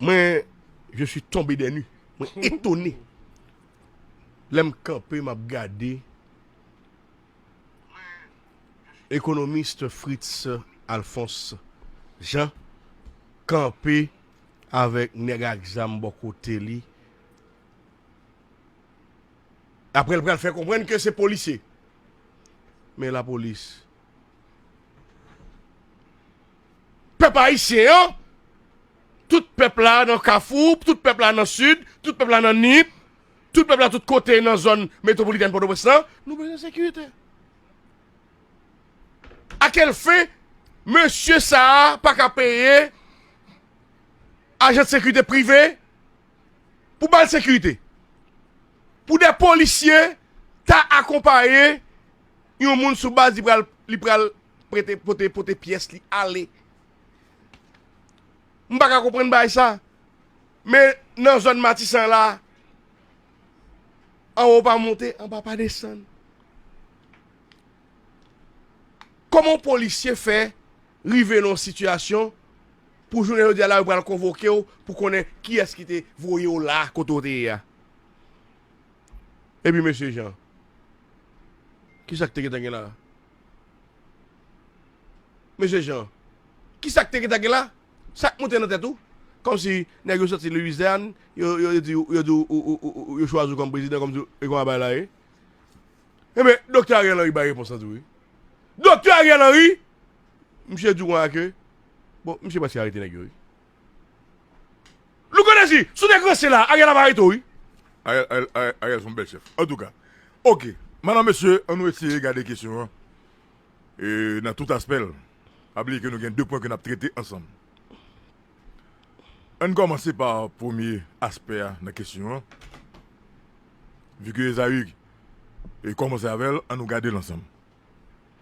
Mwen je suis tonbe des nues, mwen etone lè m kanpe m ap gade Economiste Fritz Alphonse Jean kanpe avèk nèg ak zam bò kote li aprè l pral fè konprann ke se polisye men lapolis Pèp ayisyen an, tout pèp la nan kafou, tout pèp la nan sid, tout pèp la nan nip, tout pèp la tout kote nan zòn metwopolitèn Pòtoprens lan, nou bezwen sekirite. A kèl fen, mesye sa a pa ka peye ajan sekirite prive pou ba l sekirite? Pou de polisye ta akonpaye yon moun sou baz li pral prete pote pote pyès li ale m paka konprann bagay sa men nan zòn matisan la anwo pa monte anba pa desann kòman polisye fè rive nan yon sitiyasyon pou jounen jodi a la yo pral konvoke w pou konnen kiyès ki te voye w la kote w te ye a epi mesye jan kisa ki te gentan gen la. Mesye Jean, ki sa k te gentan gen la? Sa k monte nan tèt ou? Kòmsi nèg yo soti Louisiane, yo di ou, yo di ou yo chwazi ou kòm prezidan, kòmsi e konsa bagay la ye? Enben, Doktè Ariel Henry bay repons lan tou wi. Doktè Ariel Henry! Misye di ou konsa ke, bon, misye prèske arete nèg yo wi. Louko Dezi, sou nèg ranse la, Ariel ap arete w wi. Ariel son bèl chèf. Antouka, ok, madan mesye, an nou eseye gade kesyon an nan tout aspè l. Pa bliye ke nou gen 2 pwen ke n ap trete ansanm. An n kòmanse pa premye aspè a nan kesyon an. Vike Ezayi kòmanse avè l, an nou gade l ansanm.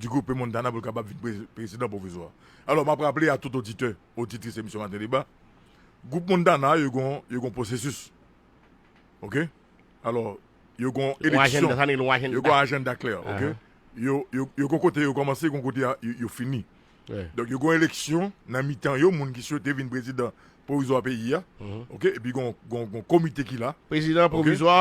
Dugoupe Montana pou l kapab vin prezidan pwovizwa. Alò m ap raple a tout oditè, oditris emisyon Maten Deba, gwoup Montana yo gon pwosesis. Ok? Alò, yo gon eleksyon. Yo gon ajenda klè. Ok? Yo gon kote yo kòmanse, yo gon kote yo fini. Donk yo gen yon eleksyon nan mitan yo, moun ki swete vin prezidan pwovizwa peyi a, oke, epi gen yon komite ki la. Prezidan pwovizwa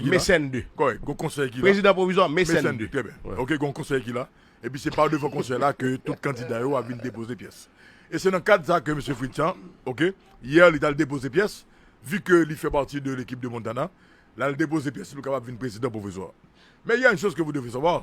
Me 5 2. Kòrèk, gen yon konsèy ki la. Prezidan pwovizwa Me 5 2. Trè byen. Oke, gen yon konsèy ki la, epi se pa devan konsèy la ke tout kandida yo ap vin depoze pyès. E se nan kad sa ke Mesye Fritz Jean, oke, yè li t al depoze pyès, vi ke li fè pati de lekip de Montana, l al depoze pyès li pou l kapab vin prezidan pwovizwa. Men il y a une chose que vous devez savoir.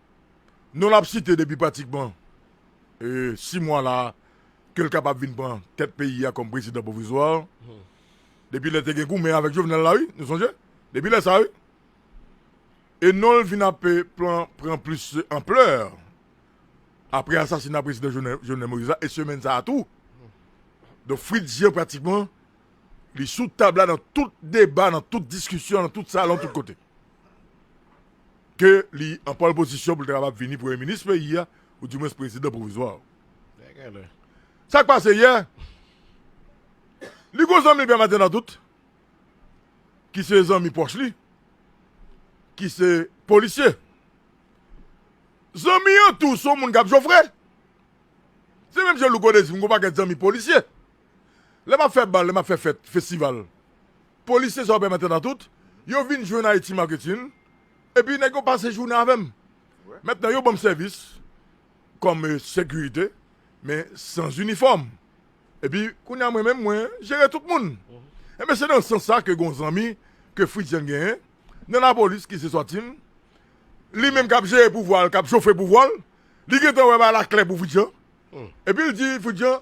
non l ap site depi pratikman 6 mwa la a ke l kapab vin pran tèt peyi a kòm prezidan pwovizwa depi lè te gen goumen avèk Jovenel la wi nou sonje depi lè sa wi e non l vin ap plan pran plis anplè apre asasina prezidan Jovenel Moïse la e semèn sa a tou donk Fritz Jean pratikman li sou tab la nan tout deba nan tout diskisyon nan tout salon tout kote. ke li an pòl pozisyon pou l ta kapab vini premye minis peyi a, ou di mwens prezidan pwovizwa. Sa k pase yè, li gen yon zanmi li pèmaten nan tout, ki se zanmi pwòch li, ki se polisye. Zanmi an tou se yon moun k ap jofre. Se menm jan Louko te di m gen yon pakèt zanmi polisye. Lè map fè bal, lè map fè fèt, festival. Police se sa yo pèmèt andan tout. Yo vin jwenn Haiti Marketing. Epi nèg yo pase jounen avèm. Mentnan yo banm sèvis kòm sekirite men sans inifòm. Epi kounya mwen menm mwen jere tout moun. Enben se nan sans sa ke gon zanmi ke Fritzian genyen nan lapolis ki se Swatin. Li menm kap jere pouvwa l, kap chofe pouvwa l. Li gentan wè bay la klè pou Fritzian. Epi l di Fritzian,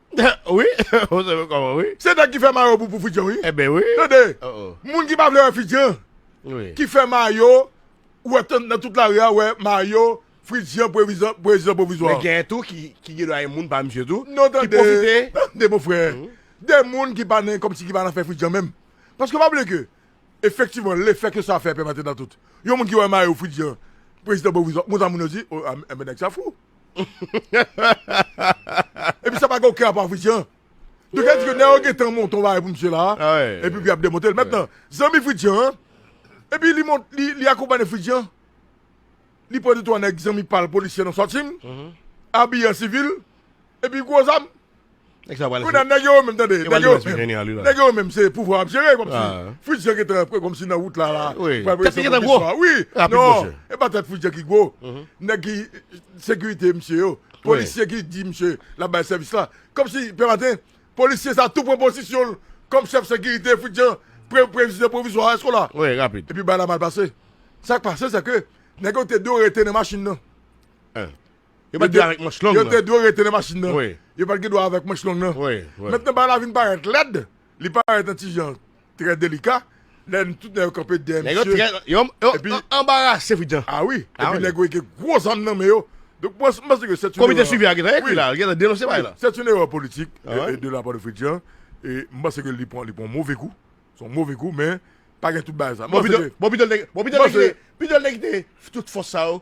Wi ou sove koman wi. Se nèg ki fè mayo pou pou fidjan wi. Ebyen wi. Tande Moun ki pa vle wè fidjan ki fè mayo ou wè nan tout lari a wè mayo fridjan prezidan pwovizwa. Men gen tou ki gendwa gen moun pa misye tou ki pwofite. Tande mon frè gen moun ki pa nan komsi ki pa nan afè fridjan menm paske pa bliye ke efektivman lefè ke sa fè pèp la te nan tout yon moun ki wè mayo fridjan prezidan pwovizwa konsa moun yo di oh enben nèg sa fou. Epi sa pa gen oken rapò ak Fritz Jean. Donk sa vle di ke nèg yo gentan monte yon bagay pou misye la, epi pou yap demonte l. Mentnan, zanmi Fritz Jean an, epi li mont, li akonpanye Fritz Jean, li pran 2 3 nèg zanmi pa l polisye nan Swat Team, abiye an sivil, epi gwo zam, Nèg sa pral Kounye a nèg yo yo menm tande, nèg yo yo menm, nèg yo yo menm se pouvwa wap jere kòmsi Fritz-Jean gentan pran kòmsi nan wout la la pral voye sanble bondye swa wi non e pa tèt Fritz-Jean ki gwo nèg ki sekirite misye yo polisye ki di misye lap bay sèvis la kòmsi pè maten polisye sa tou pran pozisyon l kòm chèf sekirite Fritz-Jean prezidan pwovizwa èske w la epi bagay la mal pase sak pase se ke nèg yo te dwe rete nan machin nan. Yo pat dwe avèk manch long nan. Yo te dwe rete nan machin nan. Yo pat gen dwa avèk manch long nan. Mentnan bagay la vin parèt lèd, li parèt yon ti jan trè delika, lè tout nèg yo kanpe dèyè misye. Nèg yo trè, yo anbarase Fritz Jean. A wi, epi nèg yo gen gwo zam nan men yo. Donk mwen panse ke sèt yon erè. Komite swivi a gentan ekri la, li gentan denonse bagay la. Sèt yon erè politik de la pa de Fritz Jean. E m panse ke li pran yon move kou. Se yon move kou men pa gen tout bagay sa. Bon pito l te kite tout fòs sa yo.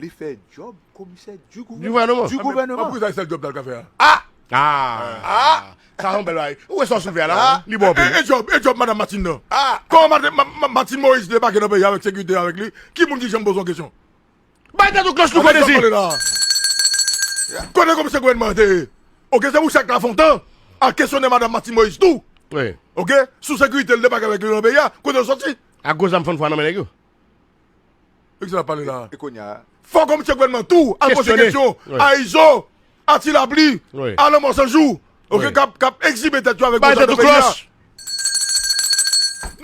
Li fè djòb komisè du gouvèneman. Du gouvèneman. Pou ki sa se sèl djòb sa l ka fè a? Aah! Aah! Sa se yon bèl bagay. Ou wè sa w soulve a la? Li bon anpil. E djòb, e djòb madam Martine nan? Aah! Kòman Martine Moïse debake nan peyi a avèk sekirite avèk li? Ki moun ki janm poze yon kesyon? Bay tèt ou klòch nou konnen si! Konnen komisè gouvèneman an te ye? Ok, se pou chak Lafontan al kesyone madam Martine Moïse tou! Ok, sou sekirite li debake avèk li nan peyi a, kote yo soti? Ak gwo zam fannfwa nan men nèg yo? E kisa nap pale la? E konya? Fò komisè gouvènman tou al poze kesyon a izo, a ti lapli, a lanmò san jou ok kap egzibe tèt yo avèk bòzò nan peyi a.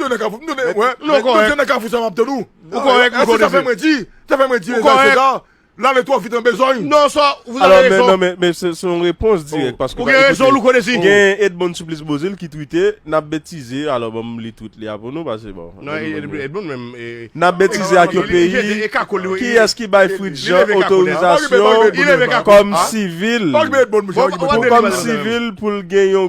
Nou nan kafou, nou nan kafou sa map tann ou. Ou korèk Hugo Devil. Sa fè mwen di, sa fè mwen di Reginald Cesar Lale two vit an bezogn. Non sa vous avez raison. Alò men men se yon repons dirèk paske ou gen rezon louko desi. Gen Edmond Supplice Beauzile ki twite nap betize alò banm li twit li a pou nou pase bon. Non Edmond menm e. Nap betize ak yon peyi kiyès ki bay Fritz Jean otorizasyon kòm sivil pou kòm sivil poul gen yon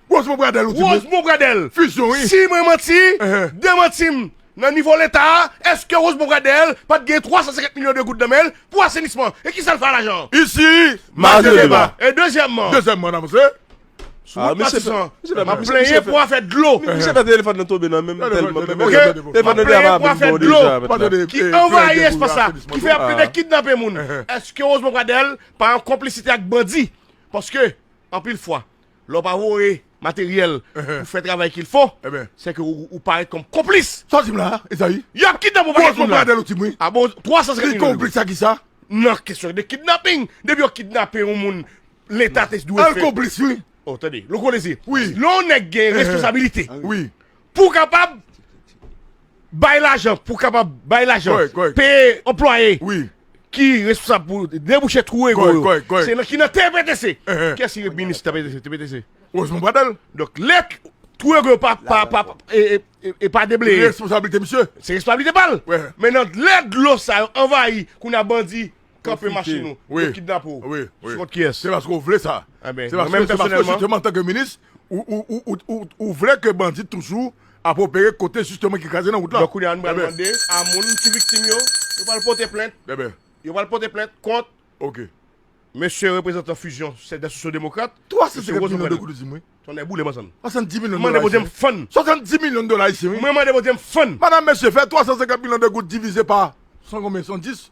Rosemond Pradel ou di mwen. Rosemond Pradel. Fusion wi. Si mwen manti, demanti m. Nan nivo leta a, eske Rosemond Pradel pat gen 350 milyon de goud nan men l pou asenisman? E kisa l fè a lajan an? Isi, maje deba. E dezyèmman. Dezyèmman n avanse. Sou wout Matisan, m ap plenyen pou afè dlo. Misye fè telefòn nan tonbe nan men m tèlman. Ok, m ap plenyen pou afè dlo ki anvayi espas la, ki fè y ap tande kidnape moun. Eske Rosemond Pradel pa an konplisite ak bandi? Paske, anpil fwa. Lè w pa voye materyèl pou fè travay kil fo, se ke ou parèt kòm konplis. Sa w di m la a, Ezayi? Y ap kidnap ou pakèt moun la. Gwòs pwòpladèl ou di m wi. A bon, 350 milyon. Li konplis a kisa? Nan kesyon de kidnaping. Depi yo kidnape yon moun, Leta te dwe fè. L konplis wi. O, tande. Louko Desir. Wi. Lè yon nèg gen responsabilite. Wi. Pou kapab bay lajan, pou kapab bay lajan, peye anplwaye ki responsab pou debouche twou ego yo. Kòrèk, kòrèk. Se nan ki nan TPTC. Kiyès ki rep minis TPTC? TPTC. Rosemond Pradel. Donk lè twou ego yo pa e pa debleye. Se responsabilite misye. Se responsabilite pa l. Men nan lè dlo sa yo anvayi kounye a bandi. Kanpe machin ou, yo kidnape ou. Sou kont kiyès? Se paske ou vle sa. Se paske jisteman antanke minis, ou vle ke bandi toujou ap opere kote jisteman ki kraze nan wout la. Donk kounye a nou pral mande a moun ki viktim yo, yo pral pote plent. Yo pral pote plent kont mesye reprezantan Fusion Cedèn Sosyo Demokrat. 350 milyon de goud ou di m wi. Tonnè boule m ansanm. 70 milyon dola ayisyen. Mwen mande Bondye m fann. 70 milyon dola ayisyen wi. Mwen mande Bondye m fann. Madame mesye fè 350 milyon de goud divize pa 100 konbyen 110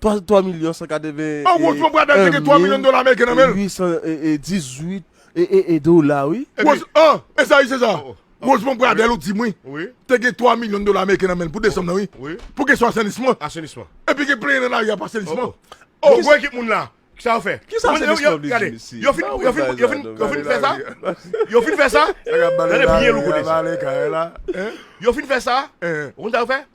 3 milyon 181 mil 818 dola wi. Wose an, e sa ayisyen sa? Rosemond Pradel ou di m wi, te gen 3 milyon dola ameriken nan men l pou desanm nan wi, pou kesyon asenisman. Asenisman. Epi gen plenyen nan lari a pou asenisman. Bon gwo ekip moun la, kisa yo fè? Kisa asenisman vle di mesye? Yo fin yo fin yo fin yo fin fè sa? Yo fin fè sa? Tande byen Louko Désir. Yo fin fè sa? Ou konn sa yo fè?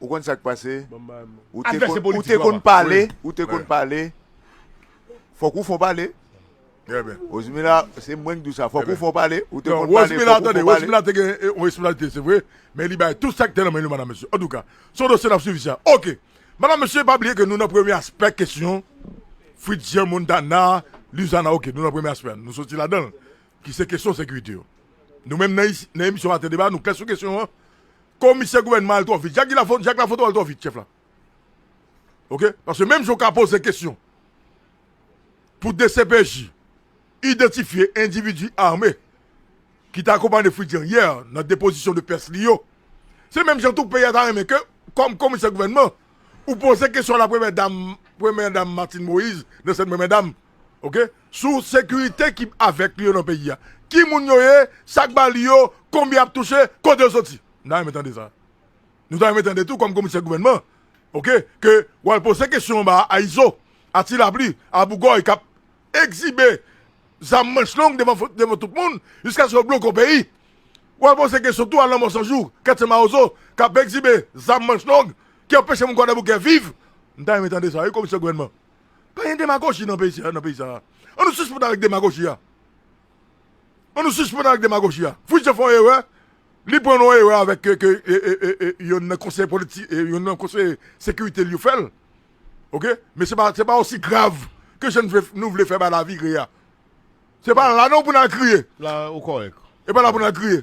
Ou konn sak pase ou te konn ou te konn pale ou te konn pale fok ou fon pale Rosmila se mwen k di w sa fok ou fon pale ou te konn pale fok ou fon pale Rosmila te gen yon responsabilite se vre men li bay tout sak te nan men li madam mesye antouka son dosye nap swiv sa ok madam mesye pa bliye ke nou nan premye aspè kesyon Fritzian Montana Luzana ok nou nan premye aspè nou soti ladanl ki se kesyon sekirite yo nou menm nan emisyon maten deba nou klè sou kesyon an Komisè gouvènman al twò vit. Jak Lafonto al twò vit chèf la. Ok. Paske menm jan w ka poze kesyon pou dcpj idantifye endividi ame ki te akonpanye Fritz-Jean yè nan depozisyon de pyès li yo, se menm jan tou peyi a ta renmen ke kòm komisè gouvènman ou poze kesyon a la premyè dam Martine Moïse nan sèn premyè dam. ok sou sekirite ki avèk li yo nan peyi a ki moun yo ye sak ba li yo konbyen yap touche kote yo soti nou ta renmen tande sa nou ta renmen tande tou kòm komisè gouvènman ok ke wal poze kesyon anba a izo a ti lapli a bougòy kap egzibe zam manch long devan devan tout moun jiskaske yo bloke yon peyi wal poze kesyon tou a lanmò san jou kètye mawozo kap egzibe zam manch long ki anpeche moun kwadèboukè viv nou ta renmen tande sa wi komisè gouvènman. Pa gen demagoji nan peyi sa, nan peyi sa a. An nou sispann avèk demagoji a. An nou sispann avèk demagoji a. Fritz fè yon erè, li pran yon erè avèk ke yonn nan konseye politi, yonn nan konseye sekirite l yo fè l. Ok? Men se pa, se pa osi grav ke jan nou vle fè bagay la vire a. Se pa la non pou n al kriye. La ou kòrèk. E pa la pou n al kriye.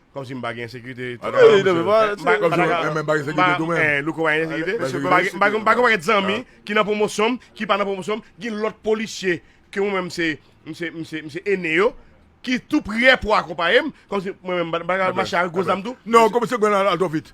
Komsi m pa gen ensekirite tou la menm Louko pa gen ensekirite m pa gen paket zanmi ki nan pwomosyon m ki pa nan pwomosyon m gen lot polisye ke mwen menm se m se ene yo ki tou prè pou akonpaye m komsi mwen menm m pa ka mache ak gwo zam tou non komsi gwen al twò vit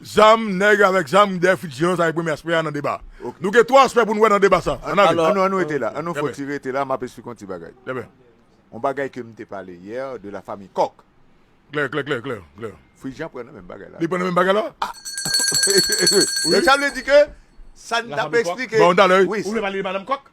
Zam, nèg avèk zam dèyè Fritz Jean sa se premye aspè a nan deba a. Nou gen 3 aspè pou nou wè nan deba sa a. An ale. An nou rete la. An nou fè yon ti rete la, m ap esplike yon ti bagay. Yon bagay ke m te pale yè de la famiy Kòk. Klè, klè, klè, klè, klè. Fritz Jean pran nan menm bagay la. Li pran nan menm bagay la? A! Donk sa vle di ke sa n t ap esplike. Ba w talè wi. Ou vle pale de Madam Kòk?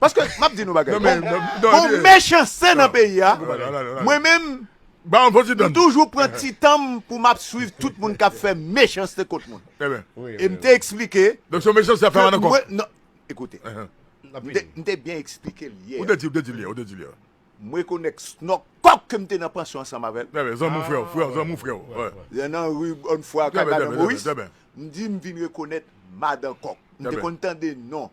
Paske map di nou bagay gon mechanste nan peyi a mwen menm m toujou pran ti tanm pou map swiv tout moun kap fè mechanste kont moun e m te eksplike ekoute m te byen eksplike l yè m rekonèk snòk kòk ke m te nan pansyon ansanm avèl lè nan ri bòn fwa kay madan moris m di m vin rekonèt madan kòk m te konn tande non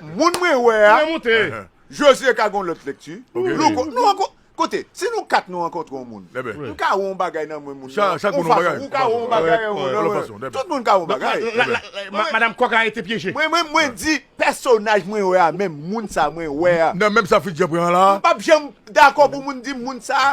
Moun mwen wè a Jozye ka gen yon lòt lekti Louko Nou ankon Kote Si nou 4 nou rankontre yon moun M ka wè yon bagay nan mwen moun nan Yon fason Ou ka wè yon bagay nan mwen Yon fason Tout moun ka wè yon bagay Madam kòk la rete pyeje Mwen menm mwen di Pèsonaj mwen wè a menm Moun sa mwen wè a Nan menm sa Fritz Jean pran an la a M pap janm dakò pou moun di m moun sa a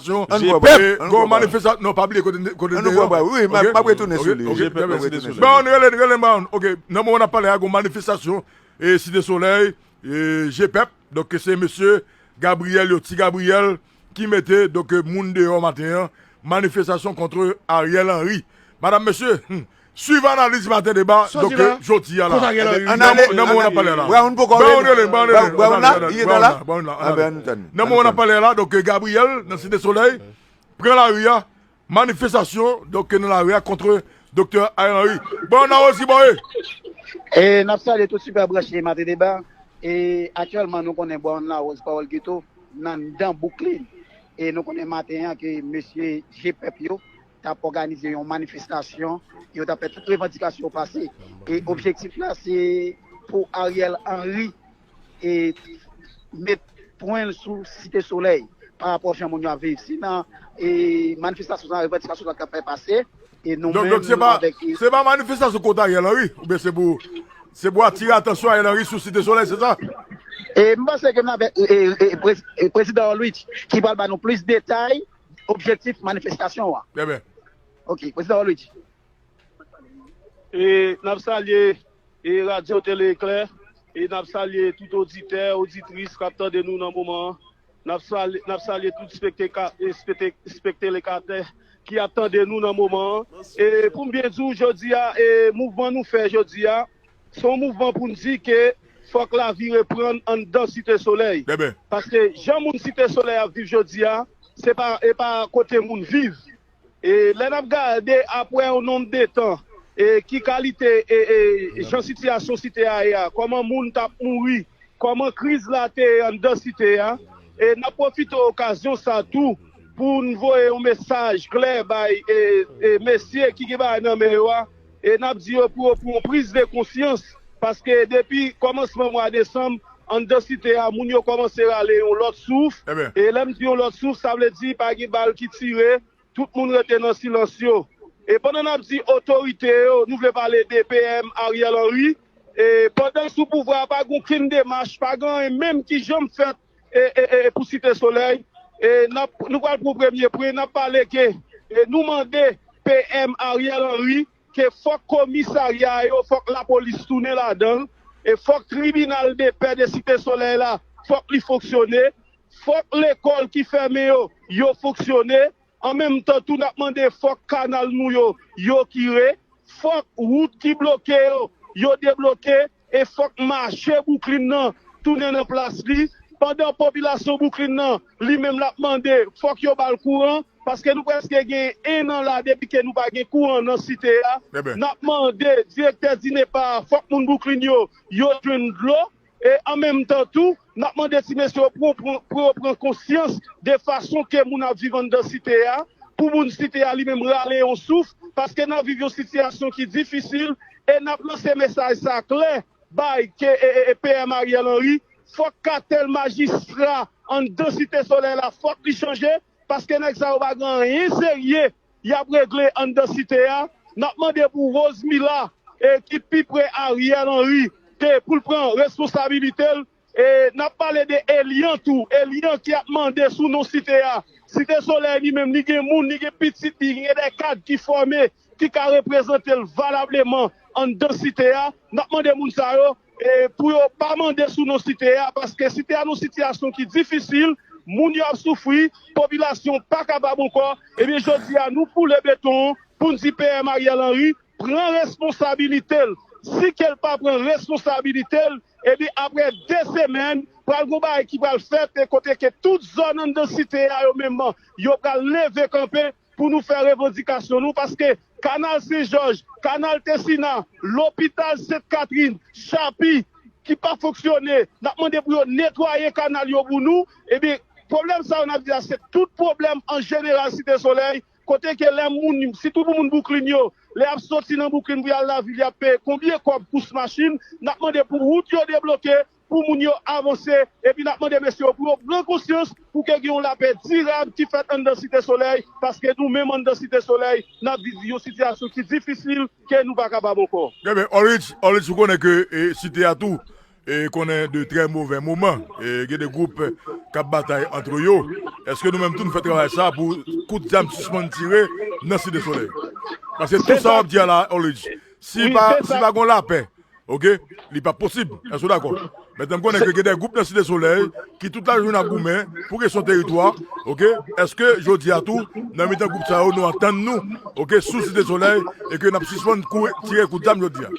manifestasyon an nou pè gon manifestasyon non pa bliye kote n te ye ok map retounen sou li ok map retounen sou li Brown rele n rele n Brown ok nan moman nap pale a gon manifestasyon e site solèy e je pèp donk se mesye Gabriel yo ti Gabriel ki mete donk moun deyò maten an manifestasyon kontre Ariel Henry madam mesye humm Swiv analiz maten deba donk jodi a la. Nan moman nap pale a la. Brown poko rele. Brown rele, Brown rele. Brown la? Li nan la? Brown la. Anben an nou tann li. Nan moman nap pale a la donk Gabriel nan Site Solèy pran lari a, manifestasyon donk nan lari a kontre Doktè Ariel Henry. Brown la Rosie Boy! E nap salye tout sipè branche maten deba. E aktyèlman nou konnen Brown la Rosie Pawòl Geto nan dan bouk li. E nou konnen maten an ke mesye je pèp yo. t ap òganize yon manifestasyon, yo t ap fè tout revandikasyon yo pase. E objektif la se pou Ariel Henry met pwen l sou Site Solèy pa rapò jan moun yo ap viv. Se nan manifestasyon sa a revandikasyon sa a t ap fè pase. Donk se pa manifestasyon kont Ariel Henry oubyen se pou se pou atire atansyon Ariel Henry sou Site Solèy se sa? M panse ke m ap fè Prezidan Orlwich ki pral ba nou plis detay. objektif manifestasyon an. Bebe. Ok, Prezidan Wally di. E nap salye e Radyo Tele Eklè e nap salye tout oditè, oditris kap tande nou nan moman an. Nap salye, nap salye tout spekteka, spete, spectelekatè ki ap tande nou nan moman an. E poum byen di w jodi a e mouvman nou fè jodi a Se yon mouvman pou n di ke fòk lavi reprann anndan Site Solèy. Paske jan moun Site Solèy ap viv jodi a, se pa e pa kote moun viv. E lè n ap gade apre yon nonm de tan e ki kalite e e jan sitiyasyon Site a ye a, kòman moun t ap mouri, kòman kriz la te ye anndan Site a. E n ap pwofite okazyon sa a tou pou n voye yon mesaj klè bay e e mesye ki gen bagay nan men yo a, E n ap di yo pou yo pran priz de konsyans, paske depi kòmansman mwa desanm, anndan Site a, moun yo kòmanse rale yon lòt souf. E lè m di yon lòt souf, sa vle di pa gen bal ki tire, tout moun rete nan silans yo. E pandan n ap di otorite yo, nou vle pale de PM Ariel Henry, e pandan l sou pouvwa a, pa gen okenn demach, pa gen anyen menm ki janm fèt e pou Site Solèy, nou pral pran premye pri, n ap pale ke nou mande PM Ariel Henry ke fòk komisarya yo, fòk lapolis tounen ladan l, e fòk tribinal depè de Site Solèy la, fòk li fonksyone, fòk lekòl ki fèmen yo, yo fonksyone, an menm tan tou n ap mande fòk kanal nou yo, yo kire, fòk wout ki bloke yo, yo debloke. E fòk mache Bouklin nan tounen nan plas li, pandan popilasyon Bouklin nan li menm lap mande fòk yo bal kouran, paske nou prèske gen 1 an la depi ke nou pa gen kouran nan site a, nap mande direktè DINEPA a fòk moun Bouklin yo yo jwenn dlo e an menm tan tou Nap mande ti mesye yo pou yo pran konsyans de fason ke moun ap viv anndan site a, pou moun site a li menm rale yon souf, paske nap viv yon sitiyasyon ki difisil, e nap lanse mesaj sa klè bay PM Ariel Henry, fòk katèl majistra anndan site solèy la fòk li chanje. Paske nèg sa yo pa gen anyen serye yap regle anndan site a, nap mande pou Rose Mila ki pi pre Ariel Henry ke poul pran responsabilitel, e nap pale de Eliant tou, Eliant ki ap mande sou non site a, site solèy li menm li gen moun, li gen pitit li, li gen de kad ki fòme ki ka reprezantel valableman anndan site a, nap mande moun sa yo E pou yo pa mande sou non site a paske site a nan yon sitiyasyon ki difisil, moun yo ap soufri, popilasyon pa kapab ankò, ebyen jodi a nou foule beton pou n di PM Ariel Henry pran responsabilite l. Si ke l pa pran responsabilite l, ebyen aprè 2 semèn pral gen yon bagay ki pral fèt e kote ke tout zòn anndan site a yo menm yo pral leve kanpe. Pou nou fè revandikasyon nou paske kanal sen jòj, kanal tesina, lopital sent katrin, chapi ki pa fonksyone nap mande pou yo netwaye kanal yo pou nou ebyen pwoblèm sa yo nap di a se tout pwoblèm an jeneral site solèy kote ke lè moun sitou pou moun bouklin yo lè yap soti nan bouklin pou yal lavil yap peye konbyen kòb kous machin nap mande pou wout yo debloke pou moun yo avanse epi nap mande mesye yo pou yo pran konsyans pou ke gen yon lapè dirab ki fèt anndan Site Solèy paske nou menm anndan Site Solèy nap viv yon sitiyasyon ki difisil ke nou pa kapab ankò. Trè byen Oritz, Oritz ou konnen ke site a tou konnen de trè movè moman, gen de gwoup kap batay antre yo, eske nou menm tou nou fè travay sa pou kout zam sispann tire nan Site Solèy? Paske tout sa wap di a la Oritz si pa gon lapè Ok li pap posib èske ou dakò mètnè m konnen ke gen de gwoup nan site solèy ki tout la jounen ap goumen pou kesyon teritwa ok èske jodi a tou nan mitan gwoup sa yo nou antann nou ok sou site solèy e ke nap sispann kouri tire kout zam jodi a.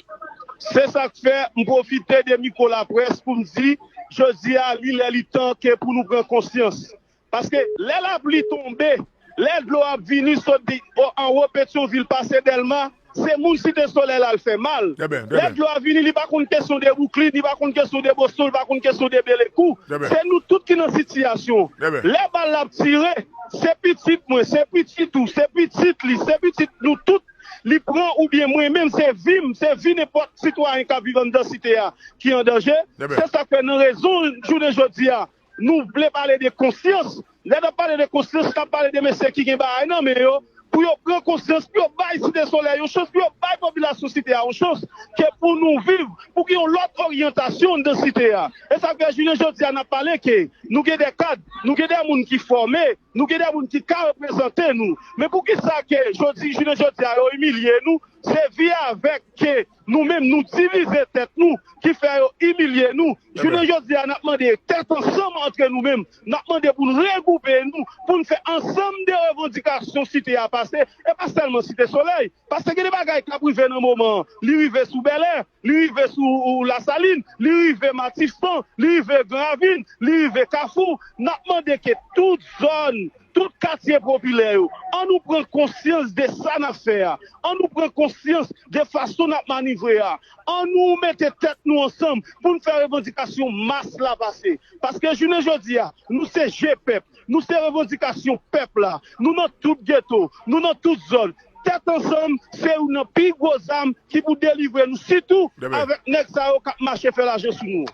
Se sak fè m pwofite de mikwo laprès pou m di jodi a li lè li tan ke pou nou pran konsyans Paske lè lapli tonbe, lè dlo ap vini sot di anwo Petyon vil pase Dèlma, se moun Site Solèy la l fè mal. Lè dlo a vini li pa konn kesyon de Bouklin, li pa konn kesyon de Boston, li pa konn kesyon de Belekou. Se nou tout ki nan sitiyasyon. Lè bal la ap tire, se pitit mwen, se pitit ou, se pitit li, se pitit nou tout li pran oubyen mwen menm se vi m, se vi nenpòt sitwayen k ap viv anndan Site a ki an danje. Se sa k fè nan rezon jounen jodi a Nou vle pale de konsyans, lè nap pale de konsyans nap pale de mesye ki gen bagay nan men yo pou yo pran konsyans pou yo bay Site Solèy yon chans pou yo bay popilasyon Site a yon chans ke pou nou viv pou gen yon lòt oryantasyon anndan Site a e sa fè jounen jodi a nap pale ke nou gen de kad nou gen de moun ki fòme nou gen de moun ki ka reprezante nou men poukisa ke jodi jounen jodi a yo imilye nou se vi avèk ke Nou menm nou divize tèt nou ki fè yo imilye nou. Jounen jodi a n ap mande tèt ansanm antre nou menm. N ap mande pou n regwoupe nou, pou n fè ansanm de revandikasyon Site a pase. E pa sèlman Site Solèy. Paske gen de bagay k ap rive nan moman an. Li rive sou Bèlè, li rive sou Lasalin, li rive Matissan, li rive Gran Ravin, li rive Kafou. N ap mande ke tout zòn Tout katye popilè yo, an nou pran konsyans de sa n ap fè a, an nou pran konsyans de fason n ap manivre a, an nou mete tèt nou ansanm pou n fè revandikasyon mas la pase. Paske jounen jodi a, nou se je pèp, nou se revandikasyon pèp la, nou nan tout geto, nou nan tout zòn, Tèt ansanm se youn nan pi gwo zam ki pou delivre nou sitou avèk nèg sa yo kap mache fè lajan sou nou.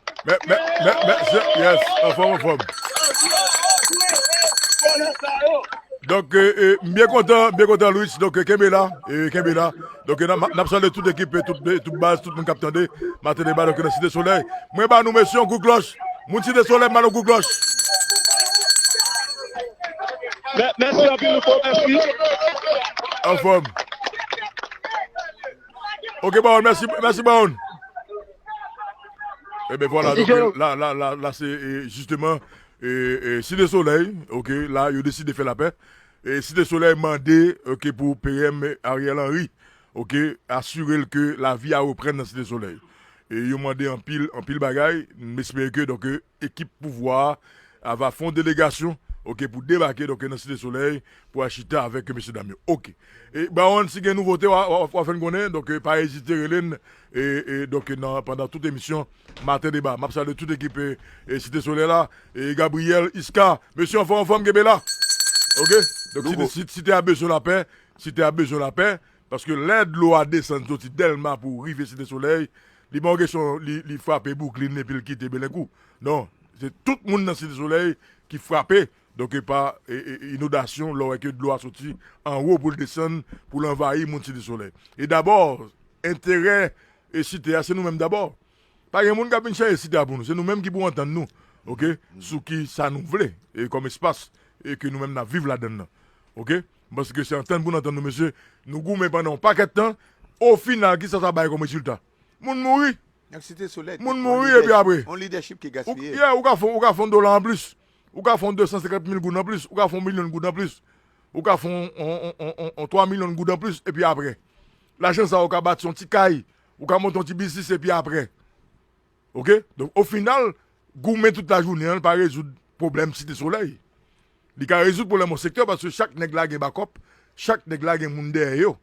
Donk m byen kontan m byen kontan Louis donk kenbe la kenbe la donk nap salye tout ekip tout baz tout moun kap tande maten deba nan site solèy mwen ba nou mesye yon kout klòch. Moun site solèy m ba nou kout klòch. Mèsi anpil louko mèsi. Anfòm. Ok baron mèsi mèsi baron. E ben vwala la la la la se jisteman e site solèy ok la yo deside fè lapè. E site solèy mande ok pou PM Ariel Henry ok asire l ke lavi a reprann nan site solèy. Yo mande anpil, anpil bagay. M espere ke donk ekip pouvwa a ava fè yon delegasyon ok pou debake donk nan Site Solèy pou al chita avèk mesye dam yo ok. Baronne si gen nouvote wa fè n konnen donk pa ezite rele n donk nan pandan tout emisyon Maten Deba. M ap salye tout ekip Site Solèy la Gabriel, Isca mesye anfòm anfòm kenbe la ok. Site a bezwen lapè, Site a bezwen lapè Paske lè dlo a desann soti Dèlma pou rive Site Solèy, li pa yon kesyon li frape Bwouklin epi l kite Belenkou. Non, se tout moun nan Site Solèy ki frape donk pa inodasyon lè w wè ke dlo a soti anwo pou l desann pou l anvayi moun Site Solèy. E dabò, enterè Site a se nou menm dabò. Pa gen moun k ap vin chanje Site a pou nou. Se nou menm ki pou antann nou ok sou ki sa nou vle kòm espas ke nou menm n ap viv ladann nan ok. M panse ke se antann pou n antann nou mesye. Nou goumen pandan yon pakèt tan, ofinal kisa sa bay kòm rezilta? Moun mouri! Moun mouri epi apre? Yeah, ou ka fè yon yon dola anplis, ou ka fè yon 250 mil goud anplis, ou ka fè yon milyon goud anplis, ou ka fè yon 3 milyon goud anplis epi apre? Lajan sa yo ka bati yon ti kay, ou ka monte yon ti biznis epi apre? Ok donk o final goumen tout la jounen an pa rezoud pwoblèm site solèy li ka rezoud pwoblèm yon sektè paske chak nèg la gen bakòp chak nèg la gen moun dèyè yo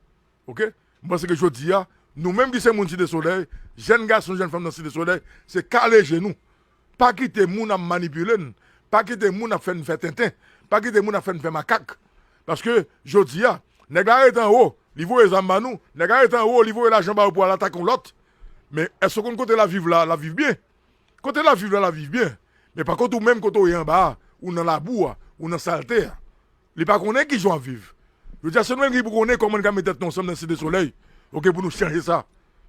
ok m panse ke jodi a nou menm ki se moun site solèy jèn gason jèn fanm nan site solèy se kale je nou pa kite moun ap manipile n pa kite moun ap fè n fè tenten pa kite moun ap fè n fè makak paske jodi a nèg la ret anwo li voye zam ba nou nèg la ret anwo li voye lajan ba yo pou al atake yon lòt Men èske w konn kote l ap viv la, l ap viv byen? Kote l ap viv la, l ap viv byen. Men pa kont ou menm kote w ye anba a, ou nan labou a, ou nan salte a. Li pa konnen ki jan w ap viv. Jodi a se nou menm ki pou konnen kòman n ka met tèt nou ansanm nan Site Solèy ok pou nou chanje sa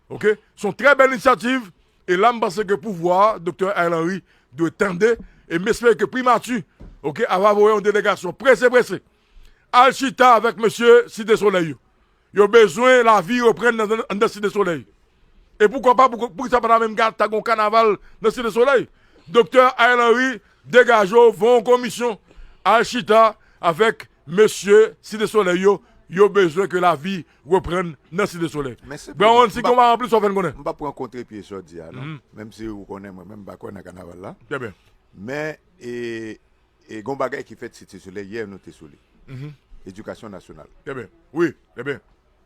ok. Se yon trè bèl inisyativ e la m panse ke pouvwa a, Doktè Ariel Henry dwe tande e m espere ke Primati ok ava voye yon delegasyon prese prese al chita avèk mesye Site Solèy yo Yo bezwen lavi reprann anndan Site Solèy. E poukwa pa, poukisa pa ta menm ta gen yon kanaval nan Site Solèy? Doktè Ariel Henry, degaje w, voye yon komisyon al chita avèk mesye Site Solèy yo, yo bezwen ke lavi reprann nan Site Solèy. Brown si konpa ranpli sa w fè n konnen. M pa pran kontrepye sa w di a non, menm si ou konnen mwen menm m pa kwè nan kanaval la. Trè byen. Men e. E gon bagay ki fèt site solèy yè nou te sou li. Edikasyon nasyonal. Eben wi eben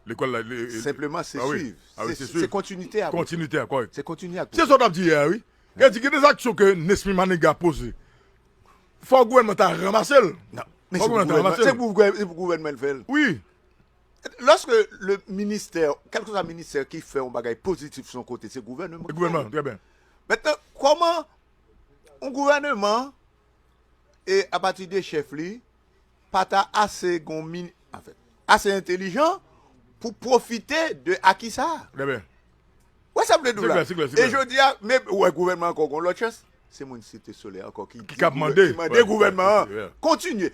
lekòl la. Senpleman se swiv. A wi se swiv. Se kontinite a. Kontinite a kòrèk. Se kontinye ak. Se sa w tap di yè a wi. E di gen de zaksyon ke Nesmy Maniga poze. Fò gouvènman ta ranmase l. Nan. Fò gouvènman ta ranmase l. Se pou gouvènman se pou gouvènman l fè l. Wi. Lòske le ministè kèlke swa ministè ki fè yon bagay pozitif son kote se gouvènman. Se gouvènman trè byen. Mètnan kòman yon gouvènman. e apati de chèf li pa ta ase gon min, anfèt, ase entelijan pou pwofite de aki sa a. Trè byen. Ou wè sa m vle di w la? Se klè, se klè, se klè. E jodi a, men, ou wè gouvènman an ankò gon lòt chans? Se moun Site Solèy ankò ki di, ki mande gouvènman an kontinye.